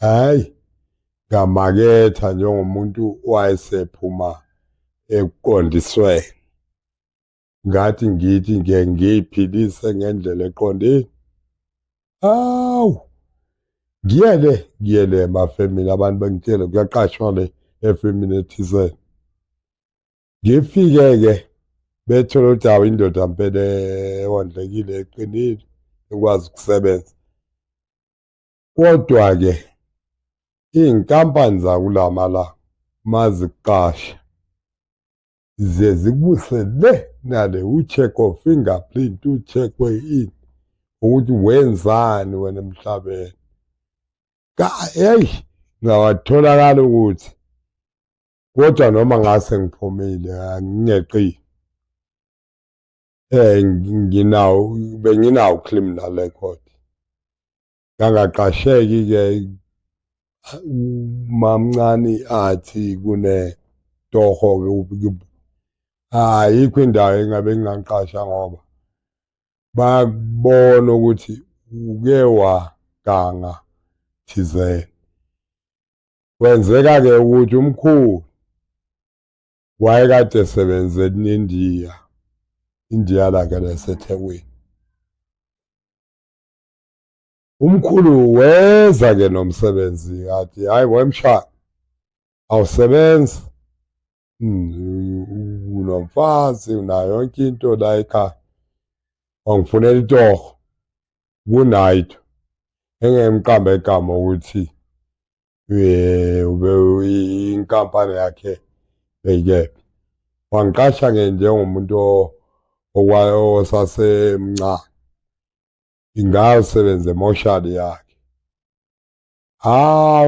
hayi ngamaketha njengomuntu wayesephuma ekuqondisweni ngathi ngithi nge ngiyiphilise ngendlela eqondile awu ngiyele ngiyele emafemini abantu bengitshele kuyaqashwa le efemini ethizeni ngifike-ke bethole ukuthi awu indoda mpela ewondlekile eqinile ekwazi ukusebenza Kodwa-ke iy'nkampani zakulamala maziqasha ziye zikubuse le nale u-check of fingerprint u-check we-ini ukuthi wenzani wena emhlabeni eyi ngawatholakala ukuthi kodwa noma ngase ngiphumile ngingeqile eh nginawo benginawo criminal record ngangaqasheki ke mamncane athi kune toho ke ayikho indawo engabe ngingangiqasha ngoba bakubona ukuthi uke waganga thizeni kwenzeka-ke ukuthi umkhulu wayekade esebenze eNindiya indiya lakhe lasethekwini umkhulu weza ke nomsebenzi athi hayi wemsha awusebenzi hmm, unomfazi unayo yonke into la ekhaya wangifunela itoho kunayitho engemqamba igama ukuthi inkampani yakhe beyikephi wangiqasha ke njengomuntu osasemncane ingayosebenza emoshali yakhe hawu